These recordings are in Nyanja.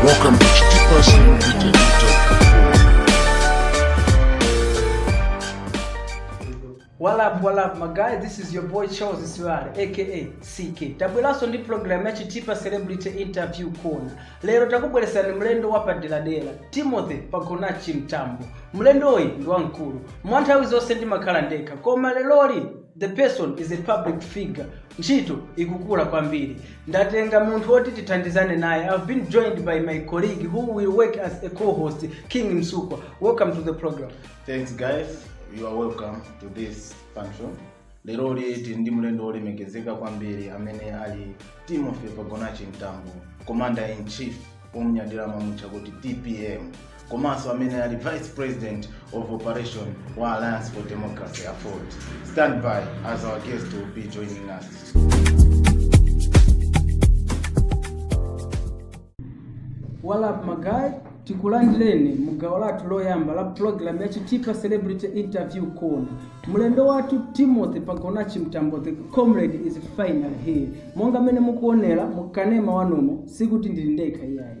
Welcome to Chitipa Celebrity Interview. What up, my guy? This is your boy Charles Israel, aka CK. Tabweraso ndi program ya Chitipa Celebrity Interview Corner. Lero takubweresani mlendo wa paderadera, Timothy Pagonachi Mtambo. Mlendoyi ndi wamkulu. Mwa nthawi zonse ndimakhala ndekha, koma leroli the person is a public figure. Ntchito ikukula kwambiri. Ndatenga munthu woti tithandizane naye. I've been joined by my colleague who will work as a co-host, King Msukwa. Welcome to the program. Thanks guys, you are welcome to this function. Lero tili ndi mlendo wolemekezeka kwambiri amene ali Timothy Pagonachi Mtambo, Commander in Chief omunyadira amamutcha kuti TPM komanso amene ali vice president of operation wa alliance for democracy AFORD stand by as our guest will be joining us what up my guy tikulandireni mu gawo lathu loyamba la program ya chitipa celebrity interview corner mlendo wathu timothy pagonachi mtambo the comrade is final here Monga mmene mukuonera mu kanema wanumo sikuti ndili ndekha iyayi.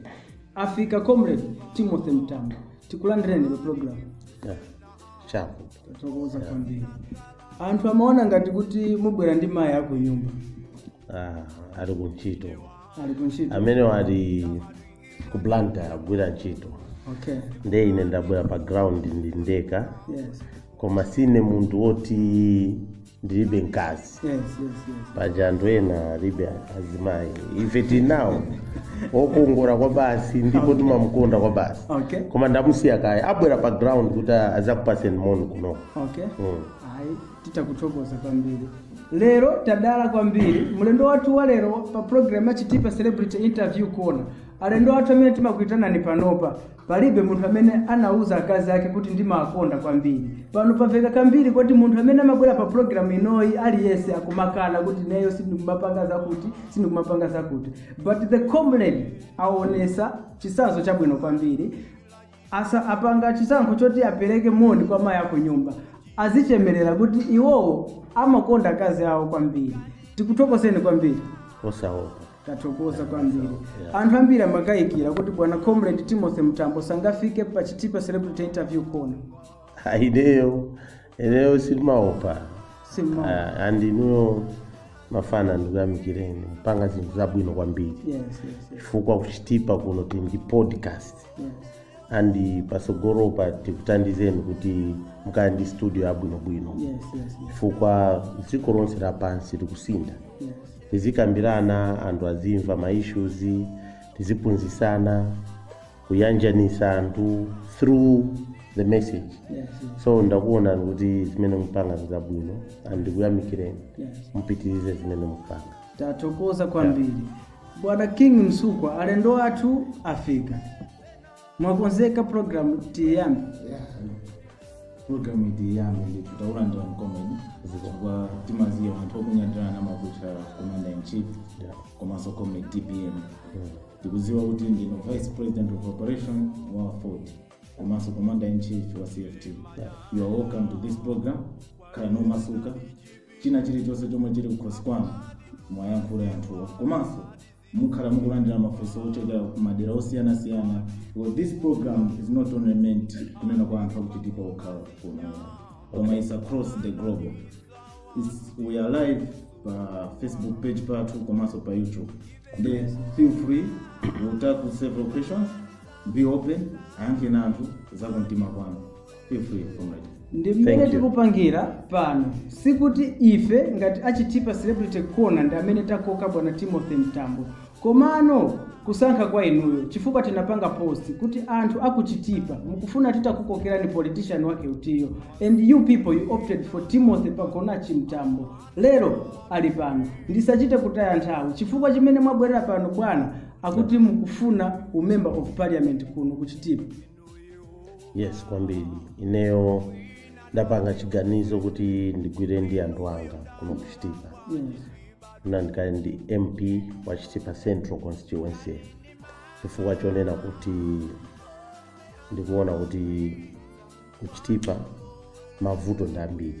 Afika Comrade Timothy Mtambo. Tikulandireni pa program. Yeah. Chapo. Tathokoza kwambiri. Anthu amaona ngati kuti mubwera ndi mayi aku nyumba. Ah, ali ku ntchito. Ali ku ntchito. Amenewo ali ku Blantyre agwira ntchito. Okay. Nde ine ndabwera pa ground ndili ndekha. Yes. Koma sine munthu woti ndilibe mkazi yes yes yes paja anthu ena alibe azimayi ife tinawo okongola kwa basi ndipo timamukonda kwa basi okay koma ndamusiya kaye ndabwera pa ground kuti azakupatseni moni kuno okay Mm. ayi titakuthokoza kwambiri lero tadala kwambiri mlendo wathu wa lero pa program ya chitipa celebrity interview corner alendo wathu amene timawaitana panopa Palibe munthu amene anauza akazi ake kuti ndimawakonda kwambiri. Pano pamveka kambiri koti munthu amene amabwera pa program inoyi aliyense akumakana kuti ineyo sindikumapanga zakuti, sindikumapanga zakuti. But the comrade aonetsa chitsanzo chabwino kwambiri. Asa apanga chisankho choti apereke moni kwa mayi aku nyumba. Azichemerera kuti iwowo amakonda akazi awo kwambiri. Tikuthokozeni kwambiri. osaopa Tathokoza kwambiri. Anthu ambiri amakayikira kuti bwana Comrade Timothy Mtambo sangafike pa Chitipa Celebrity Interview Corner. Ineyo, ineyo sindimaopa. Simaopa. Ah, and inuyo mafana ndikuyamikireni mpanga zinthu zabwino kwambiri Yes, yes, yes. chifukwa kuchitipa kuno tili ndi podcast yes. and patsogolopa tikuthandizeni kuti mukhale ndi studio yabwinobwino Yes, yes, yes. chifukwa dziko lonse lapansi likusintha Yes. tizikambirana anthu azimva ma issues tiziphunzisana kuyanjanisa anthu through the message Yes. so ndakuonani kuti zimene mupanga nzabwino and ndikuyamikireni Yes. mupitirize zimene mupanga tathokoza kwambiri bwana king msukwa alendo athu afika mwakonzeka program tiyambe program itiyambe ndithu takulandira comrade chifukwa timadziwa anthu okunyadirana amakutchani commander in chief komanso comrade tpm tikuziwa kuti ndino vice president of operation wa AFORD komanso commander in chief wa cft you are welcome to this program khalani omasuka china chilichonse chomwe chili kukhosi kwanu mwayankhula anthuwa komanso Mukhala mukulandira mafunso ochokera ku madera osiyana siyana because this program is not only meant kunena kwa anthu akuChitipa okhala kuno koma it's across the globe It's, we are live pa facebook page pathu komanso pa youtube then feel free we'll tackle several questions be open ayankheni anthu za kumtima kwanu Feel free, comrade. ndi mmene Thank you. tikupangira pano sikuti ife ngati achitipa celebrity corner ndi amene takoka bwana timothy mtambo komano nkusankha kwa inuyo chifukwa tinapanga post kuti anthu akuchitipa mukufuna titakukokereni politician wake utiyo and you people you opted for timothy pagonachi mtambo lero ali pano ndisachite kutaya nthawi chifukwa chimene mwabwerera pano bwana akuti mukufuna umember of parliament kuno kuchitipa yes kwambiri ineyo ndapanga chiganizo kuti ndigwire ndi anthu anga kuno kuchitipa ndikakhale mp wa chitipa central constituency chifukwa chonena kuti ndikuona kuti kuchitipa mavuto ndi ambiri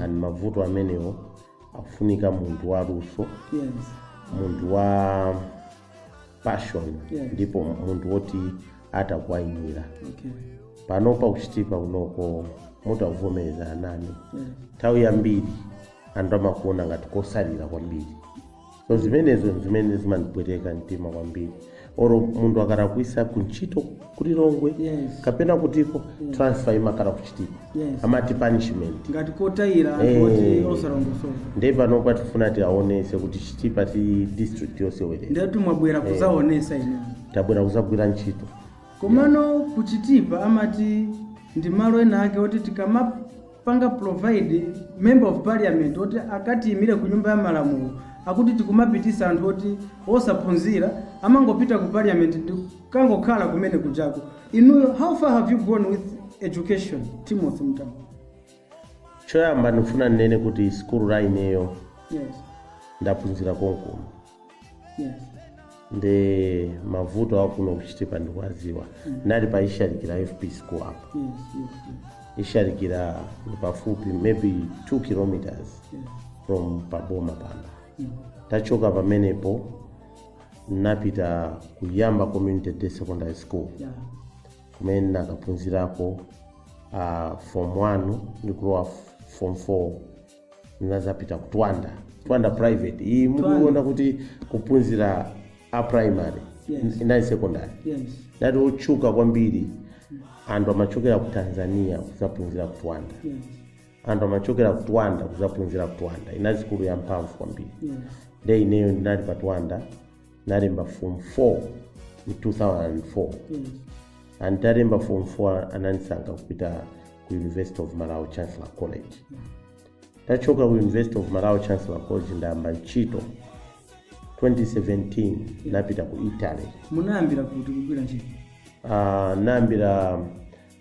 and mavuto amenewo akufunika munthu waluso yes munthu wa passion Yeah. ndipo munthu woti atha kuwayimira okay panopa kuchitipa kunoko mutavomeza anani yeah. nthawi yambiri anthu amakuona ngati kotsalira kwambiri so zimenezo zimene zimandipweteka mtima kwambiri oro munthu akalakwisa kuntchito ku lilongwe Yes. kapena kutiko transfer imakhala kuchitipa Yes. amati punishment ngati kotayira anthu Eh. oti osalongosoka ndiye panopa tifuna tiaonese kuti chitipa si district yosewerera ndiyatu mwabwera kuzaonesa ine tabwera kuzagwira ntchito komano kuchitipa amati ndi malo ena ake oti tikama panga provide member of parliament oti akatiyimire ku nyumba ya malamulo akuti tikumapitisa anthu oti osaphunzira amangopita ku parliament ndi kangokhala kumene kujako inuyo how far have you gone with education timothy mtambo choyamba ndikufuna ndinene kuti sikulu ineyo yes ndaphunzira konkuno Yeah. nde mavuto akuno ku chitipa ndikuwadziwa ndinali pa ishalikira fp school apo Yes, yes, yes. ishalikira ndi pafupi maybe 2 kilometers Yeah. from paboma pano Mm. tachoka pamenepo napita ku yamba community day secondary school Yeah. kumene ndinakaphunzirako uh, form 1 ndikulowa f- form 4 ndinazapita ku twanda twanda private iyi mukuiona kuti kuphunzira a primary Yes. inali secondary yes ndati otchuka kwambiri anthu amachokera ku tanzania kuzaphunzira ku twanda yes anthu amachokera ku twanda kuzaphunzira ku twanda inali sikulu ya mphamvu kwambiri yes nde ineyo ndinali pa twanda nalemba form 4 mu 2004 Yes. nditalemba form 4 anandisankha kupita ku university of malawi chancellor college tachoka ku university of malawi chancellor college ndayamba ntchito 2017 napita ku italy Munayambira kuti kugwira ntchito. uh, nayambira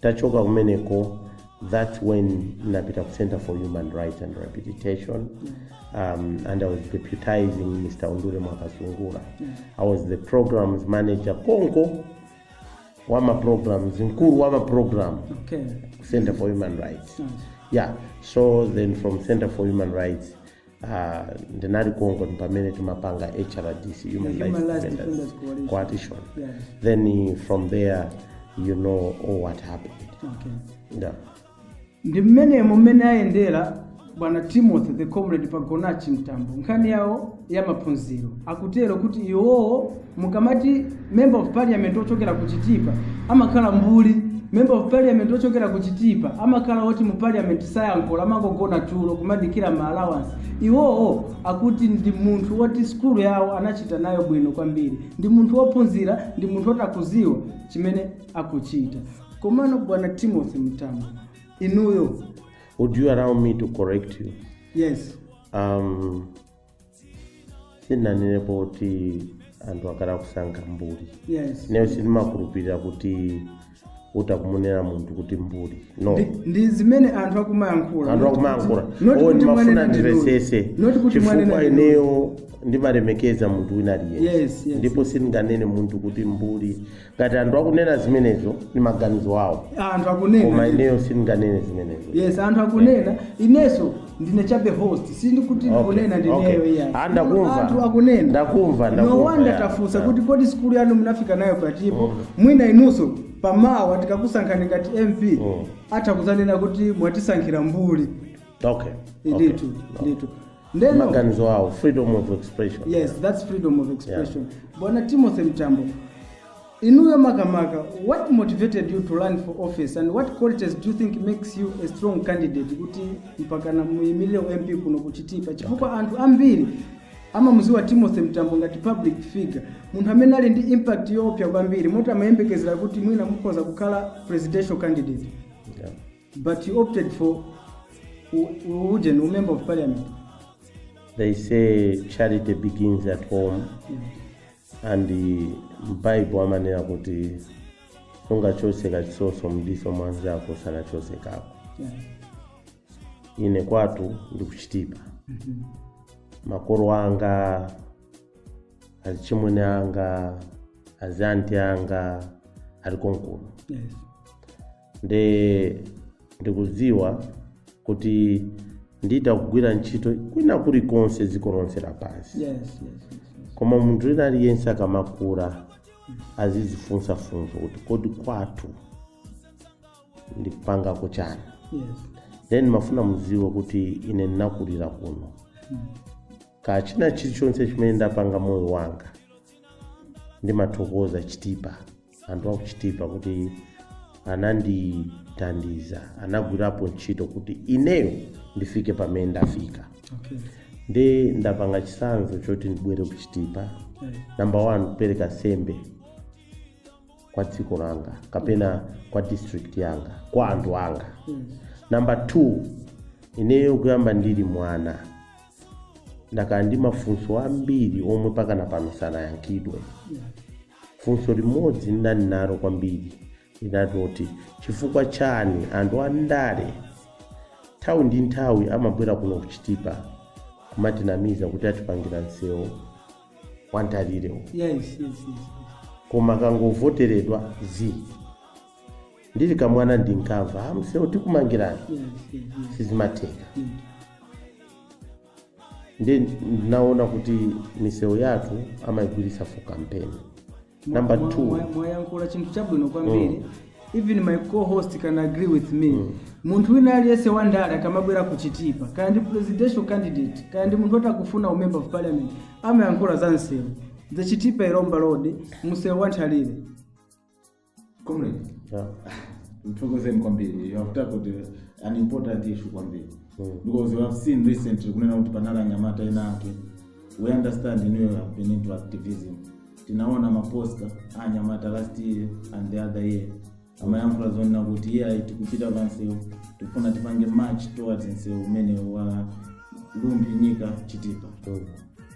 Tachoka kumeneko that's when napita ku Center for Human Rights and Rehabilitation um, and I was deputizing Mr. Undule Mwakasungula. I was the programs manager konko wa ma programs mkulu wa ma program Okay. Center for Human Rights. Yeah. So then from Center for Human Rights Ah, ndinali konko pamene timapanga hrdc human Human rights Rights defenders Defenders Coalition. coalition Yeah. then eh, from there you know all what happened Okay. yeah. ndi mmenemo mmene ayendera bwana timothy the comrade pagonachi mtambo nkhani yawo ya maphunziro akutero kuti iwowo mukamati member of parliament ochokera ku chitipa amakhala mbuli member of parliament ochokera ku chitipa amakhala oti mu parliament sayankhula amangogona tulo kumadikira ma allowance iwowo akuti ndi munthu woti skulu yawo anachita nayo bwino kwambiri ndi munthu wophunzira ndi munthu woti akuziwa chimene akuchita komano bwana timothy mtambo inuyo Would you allow me to correct you? yes Um, sindinanenepo kuti anthu akhala akusankha mbuli yes ineyo sindimakhulupirira kuti utha kumunena munthu kuti mbuli no Ndi- ndi zimene anthu akumayankhula anthu akumayankhula Not o kuti ndimafuna mwanena ndi lulu. ndimvetsetse Not kuti chifukwa mwanena ndi lulu. ineyo ndimalemekeza munthu wina aliyense Yes, yes. ndipo sindinganene munthu kuti mbuli ngati anthu akunena zimenezo ndi maganizo awo anthu koma akunena ineyo sindinganene zimenezo yes anthu akunena ineso ndine chabe host sindikuti Okay, ndikunena ndineyo okay. iyayi. Ah, ndakumva. anthu akunena Ndakumva, no ndakumva, wonder yeah, tafunsa yeah. kuti kodi sikulu yanu munafika nayo pati po mwina inunso pamawa tikakusankhani ngati mp Mm. atha kuzanena kuti mwatisankhira mbuli okay okay. ndithu ndithu Ndeno maganizo awo freedom of expression yes that's freedom of expression bwana timothy mtambo inuyo makamaka what motivated you to run for office and what qualities do you think makes you a strong candidate kuti mpakana muyimirire ump kuno kuchitipa chifukwa anthu ambiri amamuziwa timothy mtambo ngati public figure munthu amene ali ndi impact yoopya kwambiri moti amayembekezera kuti mwina mukhoza kukhala presidential candidate Yeah. But you opted for Ujeni, a member of parliament. They say charity begins at home and m'Baibulo amanena kuti sungachotse kachisoso mdiso mwanzako usanachotse kako Yeah. ine kwatu ndikuchitipa makolo anga azichimwene anga azianti anga ali konkuno Yes. nde ndikudziwa kuti nditha kugwira ntchito kwina kulikonse dziko lonse lapansi yes yes yes, yes. koma munthu wina aliyense akamakula azizifunsa funso kuti kodi kwathu ndikupangako chani yes then ndimafuna mudziwe kuti ine ndinakulira kuno kachina chilichonse chimene ndapanga moyo wanga ndimathokoza chitipa anthu akuchitipa kuti anandithandiza anagwirapo ntchito kuti ineyo ndifike pamene ndafika okay nde ndapanga chisankho choti ndibwere kuchitipa Eh, namba 1 kupereka nsembe kwa dziko langa kapena kwa district yanga kwa anthu anga yes namba 2 ineyo kuyamba ndili mwana ndakhala ndi mafunso ambiri omwe mpakana pano sanayankhidwe yeah Funso limodzi ndinali nalo kwambiri linali loti, Chifukwa chani anthu a ndale nthawi ndi nthawi amabwera kuno ku Chitipa kumatinamiza kuti atipangira msewu wa Nthalirewu, Yes, yes, yes, yes. koma akangovoteredwa zii. Ndili kamwana ndinkamva, ah, msewu tikumangirani, Yes, yes, yes. sizimatheka. Mm. nde ndinaona kuti misewu yathu amaigwiritsa for campaign number two Mwa- mwa- mwa- mwayankhula chinthu chabwino kwambiri even my co-host can agree with me munthu wina aliyense wa ndale akamabwera kuchitipa kaya ndi presidential candidate kaya ndi munthu oti akufuna umember of parliament amayankhula za msewu the chitipa ilomba road msewu wa nthalire comrade Yeah. ndithokoze kwambiri you have tackled uh, an important issue kwambiri Mm. because we have seen recently kunena kuti panali anyamata ena ake we understand you have been into activism tinaona maposta a anyamata last year and the other year amayankhula zonena kuti iyayi tikupita pansewu tikufuna tipange march towards nsewu umene wa Rumphi Nyika chitipa Mm.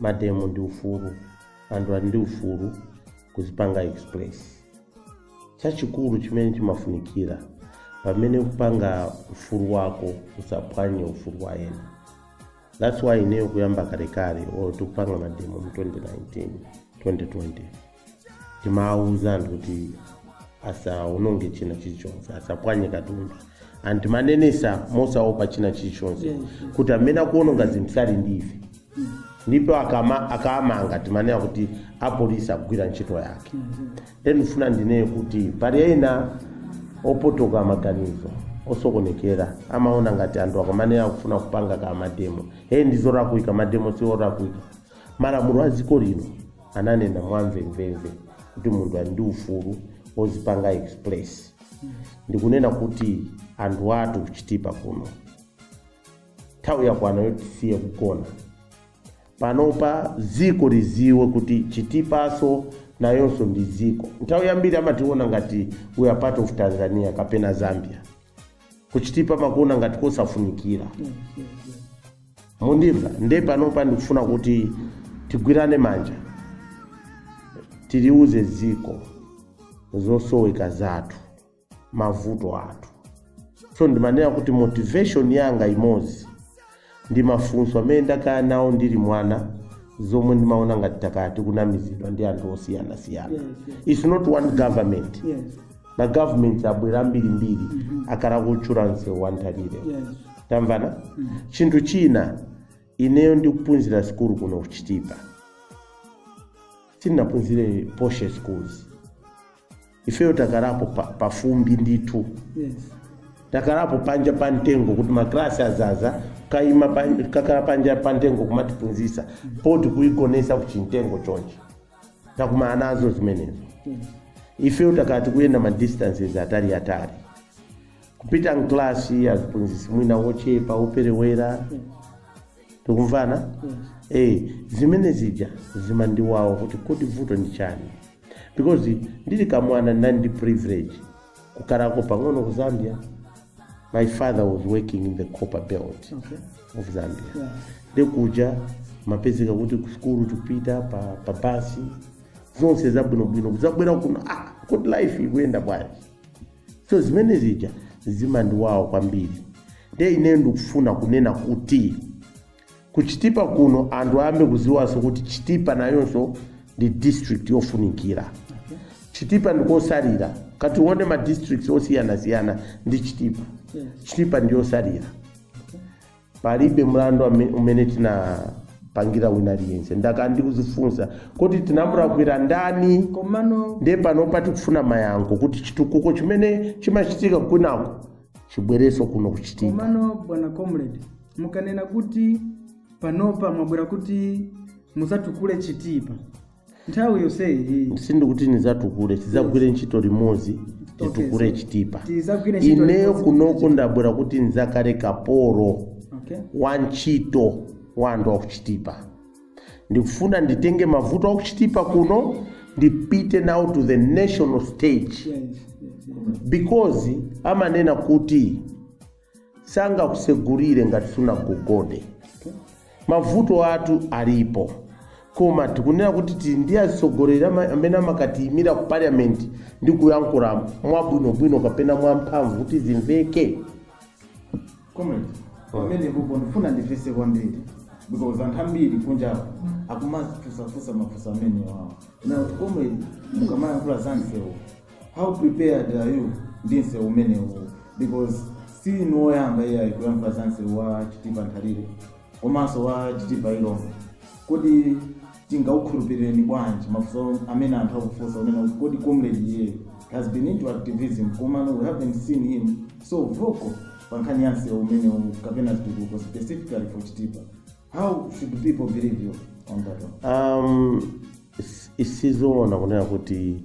mademo ndi ufulu anthu ali ndi ufulu kuzipanga express chachikulu chimene chimafunikira pamene ukupanga ufulu wako usaphwanye ufulu wa ena that's why ineyo kuyamba kalekale or tikupanga mademo mu 2019 2020 timawuza anthu kuti asawononge china chilichonse asaphwanye katundu and timanenesa mosaopa china chilichonse kuti amene akuwononga zinthu sali ndi ife ndipo akama- akamanga timanena kuti apolisi akugwira ntchito yake then ndifuna ndinene kuti pali ena opotoka maganizo osokonekera amaona ngati anthu akamanena akufuna kupanga kamademo hey ndizolakwika mademo siolakwika Malamulo a dziko lino ananena mwamvemvemve kuti munthu ali ndi ufulu ozipanga express ndikunena kuti anthu athu kuchitipa kuno nthawi yakwana yoti tisiye kugona panopa dziko liziwe kuti chitipaso nayonso ndi dziko nthawi yambiri amationa ngati we are part of tanzania kapena zambia kuchitipa amakuona ngati kosafunikira mundimva nde panopa ndikufuna kuti tigwirane manja tiliuze dziko zosoweka zathu mavuto athu so ndimanena kuti motivation yanga imodzi ndi mafunso amene ndakhala nawo ndili mwana zomwe ndimaona ngati takhala tikunamizidwa ndi anthu osiyanasiyana Yes, yes. its not one government yes magovernment abwera ambirimbiri akhala kutchula nsewu wanthalire yes tamvana chinthu china ineyo ndikuphunzira sikulu kuno kuchitipa sindinaphunzire posh schools ifeyo takhalapo pa, pa fumbi ndithu yes takhalapo panja pa mtengo kuti maklasi azaza kaima pan- kukhala panja pa mtengo kumatiphunzisa board kuigonetsa kuchimtengo chonchi takumana nazo zimenezo yes ifeyo takhala tikuyenda ma distances atali atali kupita mklasi aziphunzitsi mwina wochepa woperewera tikumvana eh zimene zija zimandiwawa kuti kodi vuto ndi chani because ndili kamwana ndinali ndi privilege kukhalako pang'ono ku zambia my father was working in the copper belt Okay. of zambia Yeah. nde kuja kumapezeka kuti kusukulu tikupita pa, pa basi zonse zabwinobwino kudzabwera kuno ah, kodi life ikuyenda bwanji so zimene zija zimandiwawa kwambiri nde ineyo ndikufuna kunena kuti ku chitipa kuno anthu ayambe kuziwanso kuti chitipa nayonso ndi district yofunikira chitipa ndikosalira ukati uone ma districts osiyanasiyana ndi chitipa chitipa ndiyosalira palibe mlandu ame- umene tinapangira wina aliyense ndakhala ndikuzifunsa kuti tinamulakwira ndani komano ndiye panopa tikufuna mayankho kuti chitukuko chimene chimachitika kwinako chibwerenso kuno ku chitipa komano bwana comrade mukanena kuti panopa mwabwera kuti muzatukule chitipa nthawi yonseyi iyi sindikuti ndizatukule tizagwire ntchito limodzi titukule Okay, so chitipa tizagwire ntchito ineyo limodzi kunoko ndabwera kuti ndizakhale kapolo okay wa ntchito wa anthu akuchitipa ndikufuna nditenge mavuto akuchitipa kuno ndipite nawo to the national stage yes, yes, yes. because amanena kuti sangakusegulire ngati sunagogode mavuto athu alipo koma tikunena kuti tili ndi atsogoleri ama- amene amakatiyimira ku parliament ndi kuyankhula mwabwinobwino kapena mwamphamvu kuti zimveke Comrade. Pamenepopo ndifuna ndifunse kwambiri because anthu ambiri kunja akumafunsafunsa mafunso amenewawo. Now comrade mukamayankhula za msewu how prepared are you ndi msewu umenewu because si inu oyamba iyayi kuyankhula za msewu wa chitipa nthalire komanso wa chitipa ilomba kodi tingakukhulupirireni bwanji mafunso amene anthu akufunsa kunena kuti kodi comrade iyeyo has been into activism komano we haven't seen him so vocal pa nkhani ya msewu umenewu kapena zitukuko specifically for chitipa how should people believe you on that one um, is- si zoona kunena kuti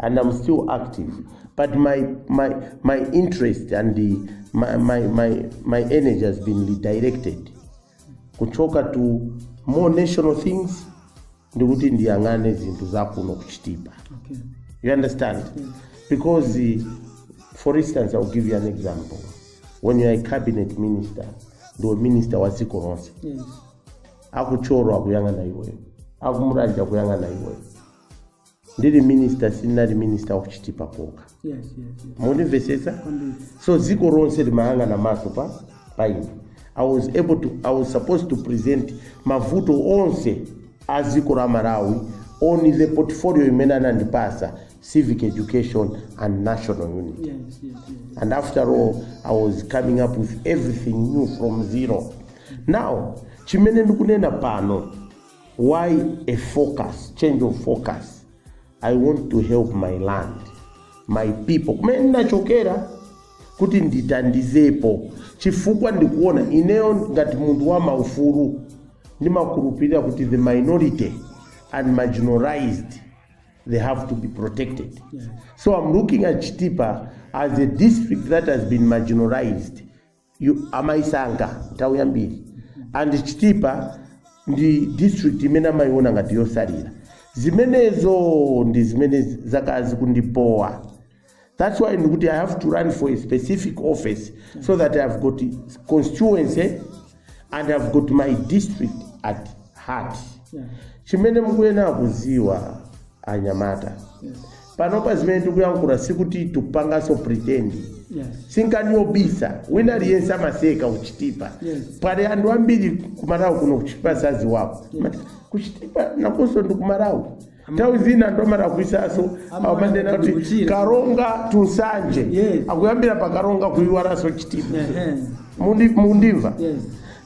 and I'm still active. But my my my interest and the my my my, my energy has been redirected. Kuchoka to more national things ndikuti ndiyang'ane zinthu zakuno kuchitipa. Okay. You understand? Because eh, for instance I'll give you an example. When you are a cabinet minister, ndiwe minister wa dziko lonse. Yes. aku thyolo akuyang'ana iweyo aku mulanje akuyang'ana iweyo ndili minister sindinali minister of chitipa kokha yes yes yes mundimvetsetsa so dziko lonse limayang'ana maso pa ine i was supposed to present mavuto onse a dziko la malawi on the portfolio imene anandipasa civic education and national unity yes yes yes and after all i was coming up with everything new from zero now chimene ndikunena pano why a focus change of focus i want to help my land my people kumene ndinachokera kuti nditandizepo chifukwa ndikuona ineyo ngati munthu wa maufulu ndimakhulupirira kuti the minority and marginalized they have to be protected so i'm looking at chitipa as a district that has been marginalized amayisankha nthawi yambiri and chitipa ndi district imene amayiona ngati yosalira zimenezo ndi zimene zakhala zikundibowa that's why ndikuti i have to run for a specific office so that i've got constituency and i've got my district at heart Yeah. chimene mukuyenera kudziwa anyamata Yes. panopa zimene tikuyankhula sikuti tikupanganso pretend Yes. si nkhani yobisa wina aliyense amaseka kuchitipa Yes. pali anthu ambiri kumalawi kuno kuchitipa sadziwako kuchitipa nakonso ndi kumalawi nthawi zina anthu amalakwitsanso Amalawi amanena kuti ndikuchira. karonga tunsanje Yes. akuyambira pa karonga kuiwalanso chitipa Ehe. Mundi- mundimva Yes.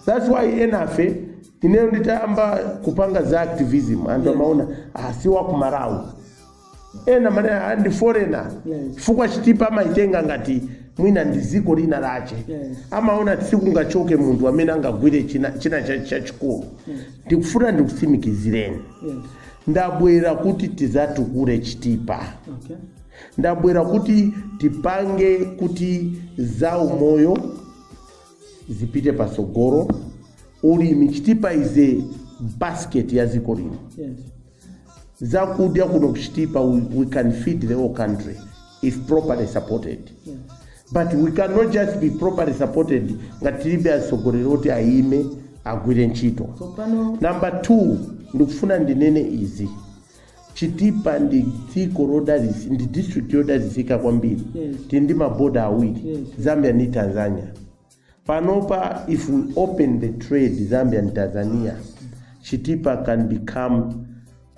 that's why enafe ineyo nditayamba kupanga za activism anthu Yes. amaona ah, si wakumalawi ena amane ah, ndi foreigner Yes. chifukwa chitipa amaitenga ngati mwina ndi dziko lina lache Yes. amaona sikungachoke munthu amene angagwire china china cha- chachikulu ndikufuna ndikutsimikizireni Yes. ndabwera kuti tizatukule chitipa Okay. ndabwera kuti tipange kuti za umoyo zipite patsogolo ulimi chitipa izikhala basket ya dziko lino Yes. zakudya kuno kuchitipa we, we can feed the whole country if properly supported but we cannot just be properly supported ngati tilibe atsogoleri oti ayime agwire ntchito so pano number two ndikufuna ndinene izi chitipa ndi dziko lodalitsi ndi district yodalitsika kwambiri Yes. tili ndi maboda awiri Yes. zambia ndi tanzania Panopa if we open the trade Zambia and Tanzania, Chitipa can become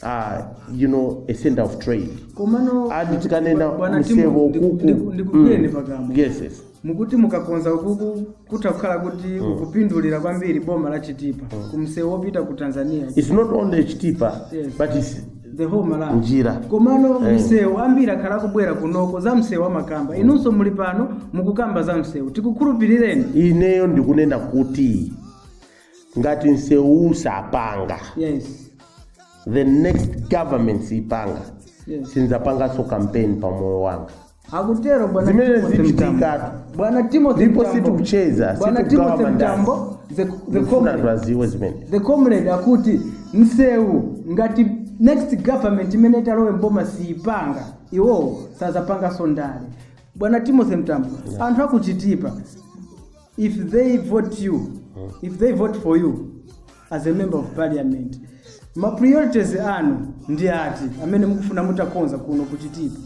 uh, you know, a center of trade. komano Adi tikanena bwana Timu, ukuku. ndiku- ndiku- ndikugwireni Mm. pakamwa Yes, yes. mukuti mukakonza ukuku kutha kukhala kuti kukupindulira kwambiri boma la chitipa kumsewu wopita ku tanzania It's not only Chitipa, Yes. but it's the whole Malawi. Njira. komano Eh. msewu ambiri akhala akubwera kunoko za msewu amakamba inunso muli pano mukukamba za msewu tikukhulupirireni ineyo ndikunena kuti ngati msewu sapanga yes the next government sipanga yes sinzapanganso campaign pa moyo wanga akutero bwana Zimene Timothy zichitikatu. Mtambo. bwana Timothy Ndipo Mtambo. situkucheza, bwana situkugawa Timothy mandasi. Mtambo the, the Ndikufuna comrade anthu adziwe zimene the comrade akuti msewu ngati next government imene italowe mboma siipanga iwowo sadzapanganso ndale bwana timothy mtambo anthu aku Chitipa if they vote you if they vote for you as a member of parliament ma priorities anu ndi ati amene mukufuna mutakonza kuno ku Chitipa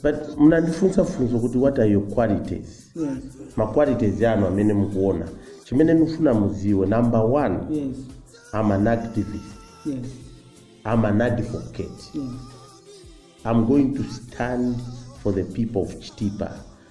but munandifunsa funso kuti what are your qualities yes. ma qualities anu amene mukuona chimene ndifuna mudziwe number one yes. i'm an activist yes. i'm an advocate yes. i'm going to stand for the people of chitipa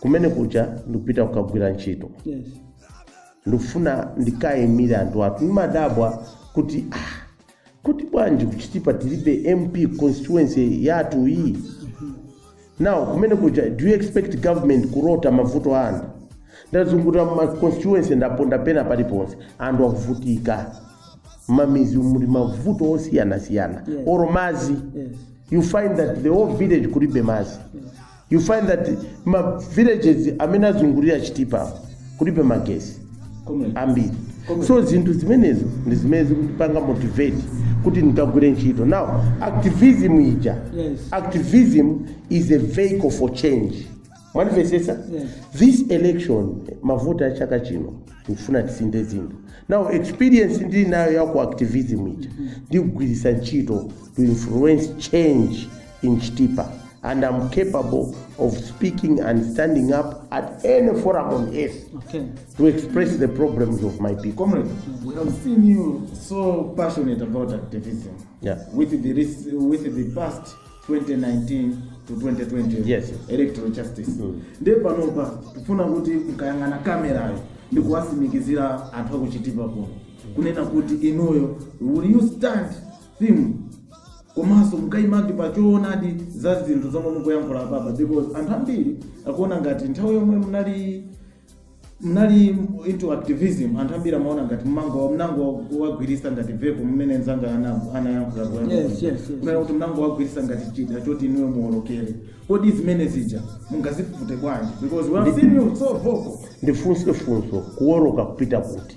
kumene kuja ndikupita kukagwira ntchito yes ndikufuna ndikayimire anthu athu ndimadabwa kuti ah, kuti bwanji ku Chitipa tilibe mp constituency yathu iyi now kumene kuja do you expect government kulota mavuto a anthu ndazunguta ma constituency ndaponda pena paliponse anthu akuvutika m'midzi muli mavuto osiyanasiyana Yes. olo madzi yes you find that the whole village kulibe madzi you find that ma villages amene azungulira chitipa apo kulibe magesi ambiri so zinthu zimenezo ndi zimene zikundipanga motivate kuti ndikagwire ntchito now activism ija Yes. activism is a vehicle for change mwanimvetsetsa Yes. this election mavoti a chaka chino tikufuna tisinthe zinthu now experience ndili nayo ya ku activism ija ndikugwiritsa ntchito to influence change in Chitipa, and I'm capable of speaking and standing up at any forum on earth Okay. to express the problems of my people. Comrade, we have seen you so passionate about activism. Yeah. With the res- with the past 2019 to 2020 Yes. electoral justice. Mm. Ndiye panopa kufuna kuti mkayang'ana kamerayo ndi kuwasimikizira anthu akuchitipa kuno kunena kuti inuyo will you stand simu komanso mukayimatu pa choonadi za zinthu zomwe mukuyankhula apapa because anthu ambiri akuona ngati nthawi yomwe munali munali into activism anthu ambiri amaona ngati munangowa munangowagwiritsa ngati vehicle mmene nzanga ana- anayankhula kuyamba Yes, kuja. yes, yes. Kunena kuti munangowagwiritsa ngati chida choti inuyo muolokere kodi zimene zija mungazifute bwanji because we have seen you so vocal ndifunse funso kuwoloka kupita kuti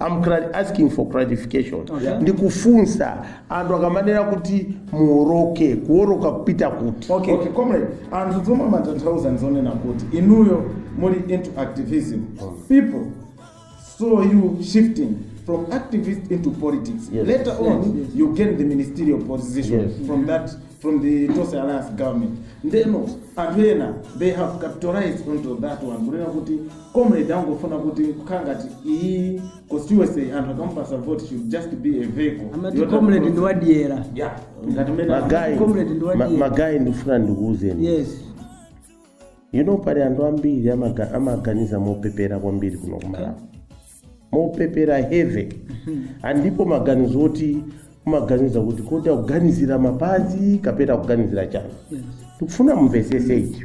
I'm cla- asking for clarification Okay. ndikufunsa anthu akamanena kuti muoloke kuoloka kupita kuti okay okay comrade anthu zomwe amatanthauza ndizonena kuti inuyo muli into activism people saw you shifting from activist into politics Yes. later on you gain the ministerial position Yes. from that from the Tonse alliance government ndiyeno anthu ena they have capitalized onto that one kunena kuti Comrade angofuna kuti kukhala ngati iyi constituency anthu akamupasa vote should just be a vehicle. amati Yota- comrade ndi wadyera Yeah, ngati mmene magayi Comrade ndi wadyera. magayi ndifuna ndikuwuzeni yes you know pali anthu ambiri amaga- amaganiza mopepera kwambiri kuno kumalawi mopepera heavy andipo maganizo oti umaganiza kuti kodi akuganizira mapazi kapena akuganizira chani yes ndikufuna mumvesese ichi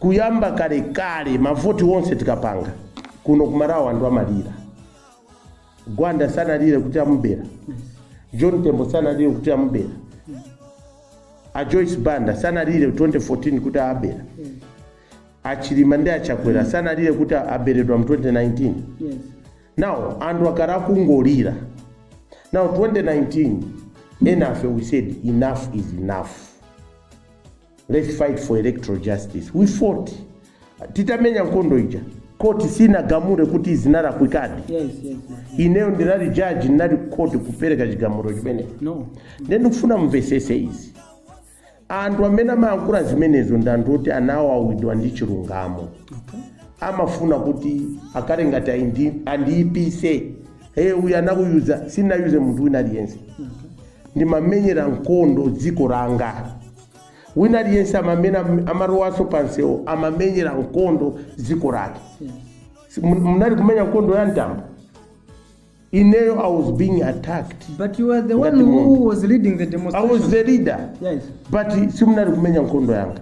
Kuyamba kalekale mavoti onse tikapanga kuno kuMalawi anthu amalira. Gwanda sanalire kuti amubera. John Tembo sanalire kuti amubera. A Joyce Banda sanalire 2014 kuti abera. A Chilima ndi a Chakwera sanalire kuti aberedwa mu 2019. Yes. Now anthu akhala akungolira. Now 2019 enafe we said enough is enough. Let's fight for electoral justice. We fought. Titamenya nkondo ija. Court sinagamure kuti zinalakwikadi. Yes, yes, yes. Ineyo ndinali judge ndinali court kupereka chigamulo chimene. No. Ndiye ndikufuna mumvesese izi. Anthu amene amayankhula zimenezo ndi anthu oti anawawidwa ndi chilungamo. Okay. amafuna kuti akhale ngati aindi- andiyipise hey uyu anakuyuzani sinayuze munthu wina aliyense ndimamenyera nkondo dziko langa wina aliyense amamena amalowanso pamsewu amamenyera nkondo dziko lake Si- mun- munali kumenya nkondo ya mtambo ineyo i was being attacked but you were the one Ngati munthu. who was leading the i demonstration was the leader yes but simunali kumenya nkondo yanga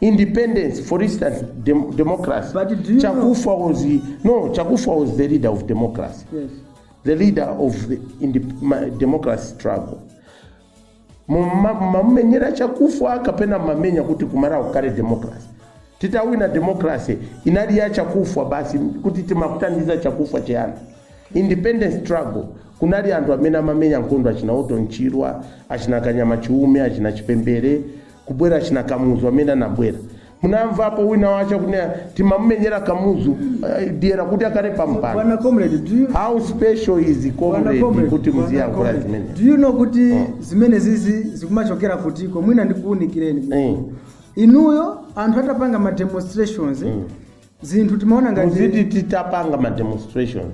independence for instance dem democracy But do you Chakufwa was the, no Chakufwa was the leader of democracy yes the leader of the indep- ma- democracy struggle Muma- mumamenyera Chakufwa kapena mumamenyera kuti kuMalawi kukhale democracy titawina democracy inali ya Chakufwa basi kuti timakuthandiza Chakufwa cheyani independence struggle kunali anthu amene amamenya nkhondo achina Orton Chirwa achina kanyama chiume achina chipembere kubwera achina kamuzu amene anabwera Munamvapo wina wache akunena timamumenyera Kamuzu eh, dyera kuti akhale pa mpando. Bwana comrade, do you How special is Bwana comrade comrade, kuti bwana muziyankhula comrade, zimene? do you know kuti zimenezizi zikumachokera kutiko mwina ndikuwunikireni Eh. inuyo anthu atapanga ma demonstrations zinthu timaona ngati Muziti titapanga ma demonstrations.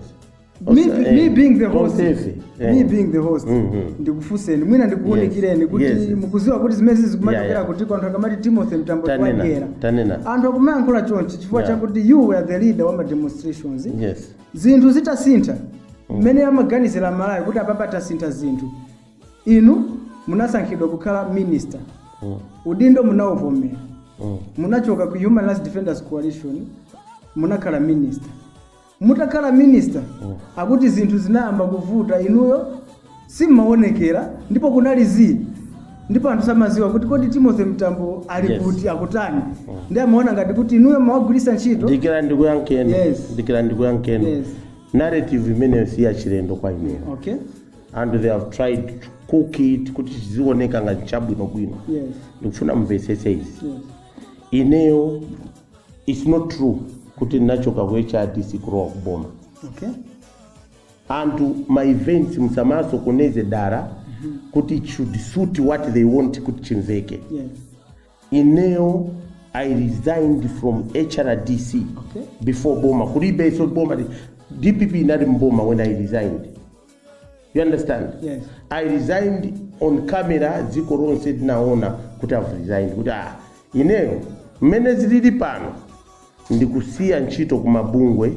me, Osa- be- me eh, being the host eh. me being the host Mhm. ndikufunseni mwina ndikuwunikireni Yes, kuti yes. mukuziwa kuti zimene Yeah, zikumachokera yeah. kutiko anthu akamati timothy mtambo Tanena, wagwera tanena. anthu akumayankhula chonchi chifukwa Yeah. chakuti you were the leader wa ma demonstrations yes zinthu zitasintha mmene amaganizira malawi kuti apapa tasintha zinthu inu munasankhidwa kukhala minister Mm, udindo munawuvomera mm. munachoka ku human rights defenders coalition munakhala minister Mutakhala minister akuti zinthu zinayamba kuvuta inuyo simmaonekera ndipo kunali zii ndipo anthu samaziwa kuti kodi Timothy Mtambo ali Yes. kuti akutani ndiye amaona ngati kuti inuyo mmawagwiritsa ntchito dikirani ndikuyankheni Yes. dikira ndikuyankheni Yes. narrative imeneyo si yachilendo kwa ineyo okay and they have tried to cook it kuti chizioneka ngati chabwinobwino yes ndikufuna mumvetsetse izi yes ineyo its not true kuti ndinachoka ku hrdc kulowa ku boma okay anthu ma events musamasokoneze dara kuti it should suit what they want kuti chimveke yes ineyo i resigned from hrdc Okay. before boma kulibenso boma dpp inali mboma when i resigned you understand Yes. i resigned on camera dziko lonse linaona kuti i've resigned kuti ah ineyo mmene zilili pano ndikusiya ntchito ku mabungwe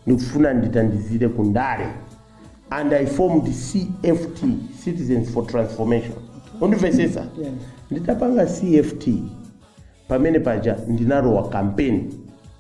ndikufuna nditandizire ku ndale and i formed cft citizens for transformation mukundimvesesa Yes. nditapanga cft pamene paja ndinalowa kampeni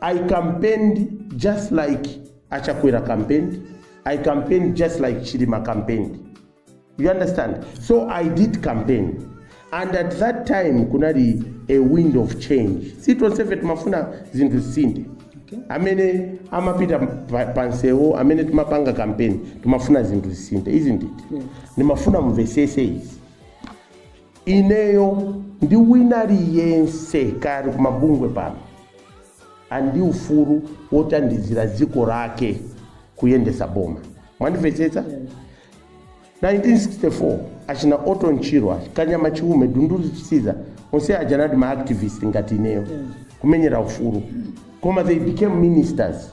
I campaigned just like Achakwera campaigned. I campaigned just like Chilima campaigned. You understand? So I did campaign. And at that time, kunali a wind of change. Si tonse fe timafuna zinthu zisinthe. Amene amapita pa- pansewo, amene timapanga campaign, timafuna zinthu zisinthe, isn't it? Ndimafuna mumvesese izi. Ineyo ndi wina aliyense kaya ali kumabungwe pano ali ndi ufulu wotandizira dziko lake kuyendetsa boma. Mwandimvetsetsa? 1964 achina Orton Chirwa, Kanyama Chiume, Dunduzu Chisiza onse aja anali ma activist ngati ineyo kumenyera ufulu koma they became ministers.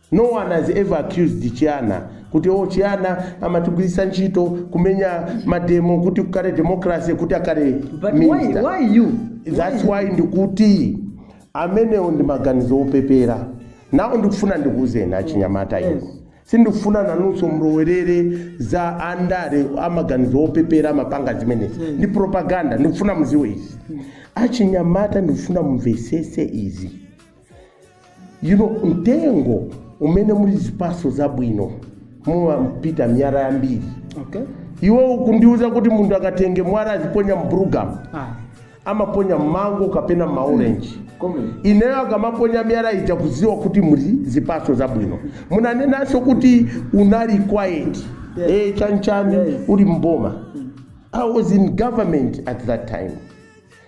No one has ever accused Chihana kuti oh Chihana amatigwiritsa ntchito kumenya mademo kuti kukale democracy kuti akale But why, minister. why you? That's why ndikuti amenewo ndi maganizo opepera now ndikufuna ndikuuzeni achinyamata Yes. inu sindikufuna nanunso mulowerere za andale amaganizo opepera amapanga zimenezi ndi propaganda ndikufuna muziwe izi achinyamata ndikufuna mumvesese izi you know mtengo umene muli zipatso zabwino mumapita miyala yambiri okay iwe ukundiuza kuti munthu akatenge mwala aziponya mbrugamu ah amaponya mango kapena maorenji Comrade. ineyo akamaponya miyala ija kuziwa kuti muli zipatso zabwino munanenanso kuti unali quiet Yes. eh, chanchani Yes. uli mboma i was in government at that time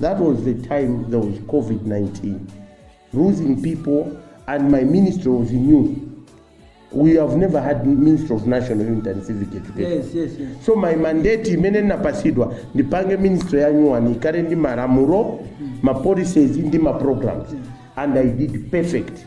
That was the time there was COVID 19, losing people, and my ministry was new. We have never had Minister of National Unity and Civic Education. Yes, yes, yes. So my mandate imene napasidwa ndipange ministry ya nyuwani ikale ndi malamulo, ma policies ndi ma programs and I did perfect.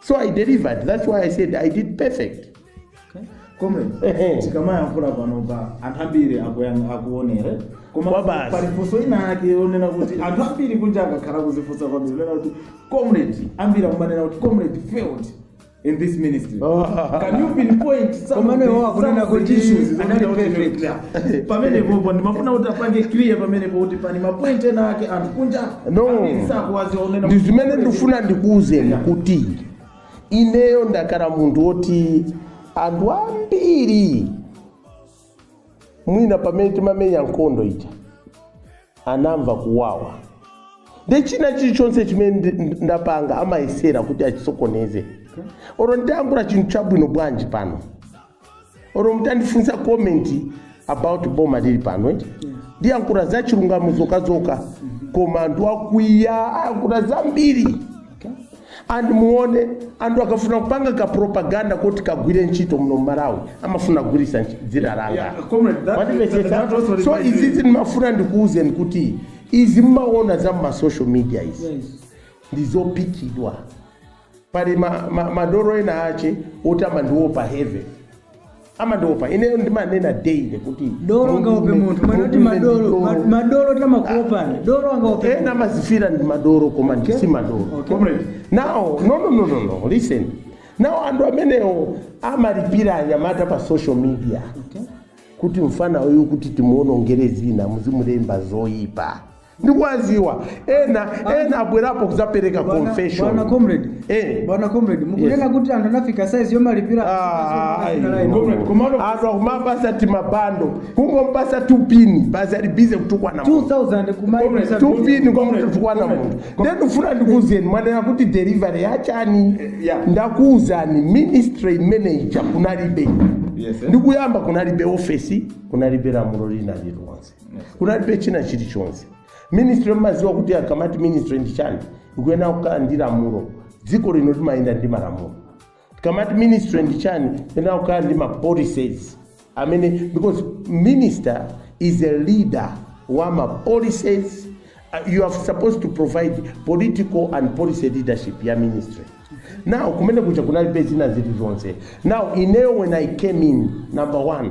so i delivered that's why i said i did perfect comrade Ehe. tikamayankhula panopa anthu ambiri akuyang- akuonere koma Kwabasi. pali funso ina yake yonena kuti anthu ambiri kunja akakhala kuzifunsa kwambiri onena kuti comrade ambiri akumanena kuti comrade failed in this ministry Oh. can you pinpoint some of Komano the- iwo akunena some of the kuti issues anali zomwe- perfect. Yeah. pamenepopo ndimafuna kuti apange clear pamenepo kuti pali mapoint ena ake anthu kunja No. ambiri sakuwaziwa unena ndi zimene ndifuna ndikuwuzeni kuti ineyo ndakhala munthu woti anthu ambiri mwina pamene timamenya nkhondo ija anamva kuwawa ndi china chilichonse chimene ndi- ndi- ndapanga amayesera kuti achisokoneze oro ndiyankhula chinthu chabwino bwanji pano oro mutandifunsa comment about boma lili pano eti ndiyankhula za chilungamo zokazoka koma anthu akwiya ayankhula zambiri and muone anthu akafuna kupanga ka propaganda kuti kagwire ntchito muno mmalawi amafuna kugwirisa nchi- dzina langa Yeah, comrade, that- Mwandimvetsetsa? that also so reminds me- izizi ndimafuna ndikuwuzeni kuti izi mmaona za mmasocial media izi Yes. ndizopikidwa pali ma, ma, madoro ena ache oti amandiopa heavy amandiopa ineyo ndimanena daily kuti dolo angaope munthu mwana kuti madolo ma- madolo timakuopani dolo angaope ena amazifira ndi madoro koma ndi si madoro Okay. Comrade, now no no no no no listen now anthu amenewo amalipira anyamata pa social media Okay. kuti mfana uyu kuti timuonongere dzina muzimulemba zoyipa ndikuwaziwa ena ena abwerapo kudzapereka Bwana- confession bwana comrade Eh. bwana comrade mukunena Yes. kuti anthu anafika size yomalipira Ah, Anafika size yomalipira. Comrade, komano- anthu akumawapasa timabando kungompasa tupini basi ali busy kutukwana munthu. 2000 kumaibisa tupini kumutukwana munthu ndendifuna ndikuuzeni mwanena kuti delivery yachani yeah. ndakuuzani ministry imene ija kunalibe Yes, eh. ndikuyamba kunalibe ofesi kunalibe lamulo lina lilonse kunalibe china chilichonse ministry mmaziwa kuti akamati ministry ndi chani ikuyenera kukhala ndi lamulo dziko lino limayenda ndi malamulo tikamati ministry ndi chani iyenera kukhala ndi ma policies amene because minister is a leader wa ma policies Uh, you are supposed to provide political and policy leadership ya ministry now kumene kuja kunalibe zina zilizonse now ineyo when i came in number one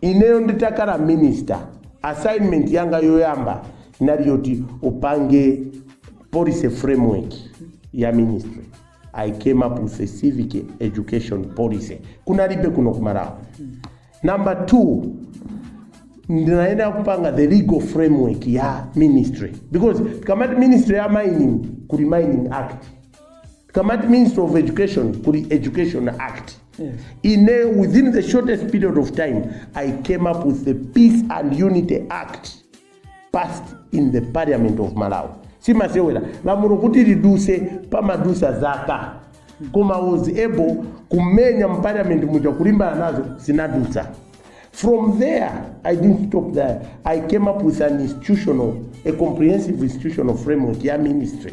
Ineyo nditakhala minister assignment yanga yoyamba inali yoti upange policy framework ya ministry i came up with a civic education policy kunalibe kuno ku malawi number two ndinayenera kupanga the legal framework ya ministry because tikamati ministry ya mining kuli mining act tikamati ministry of education kuli education act ine within the shortest period of time i came up with the peace and unity act passed in the parliament of malawi simasewera lamulo kuti liduse pamadusa zaka koma was able kumenya mparliament muja kulimbana nazo zinadusa from there i didn't stop there i came up with an institutional a comprehensive institutional framework ya ministry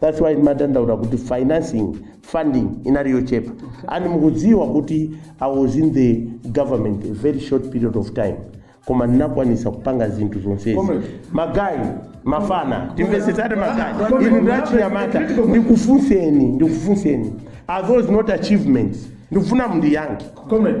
that's why timadandaula kuti financing funding inali yochepa and mukudziwa kuti i was in the government a very short period of time koma ndinakwanisa kupanga zinthu zonsezi Comrade. magayi mafana timvesesate magayi Comrade. inu ndachinyamata ndikufunseni ndikufunseni are those not achievements ndikufuna mundiyankhe Comrade,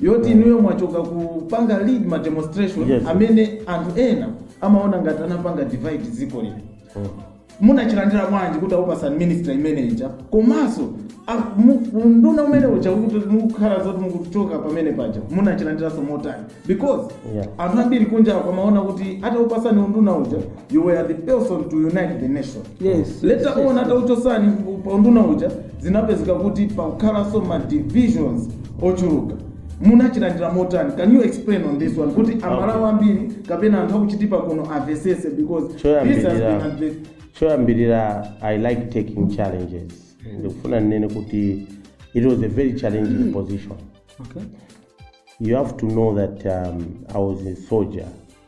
yoti inuyo mwachoka kupanga lead ma demonstration Yes. amene anthu ena amaona ngati anapanga divide dziko lino munachilandira bwanji kuti akupasani minister imene ija komanso a- mu- unduna umene uja ukuti mukukhala zoti mukuchoka pamene paja munachilandiranso motani because Yeah. anthu ambiri kunjaku amaona kuti atakupasani unduna uja you were the person to unite the nation later yes, yes, on yes. atauchosani paunduna uja zinapezeka kuti pakukhalanso ma divisions ochuluka munachilandira motani can you explain on this one kuti amalawi ambiri kapena anthu akuchitipa kuno amvesese because this has been choyambirira adve- choyambirira i like taking challenges ndikufuna ndinene kuti it was a very challenging position Okay. you have to know that um, i was a soldier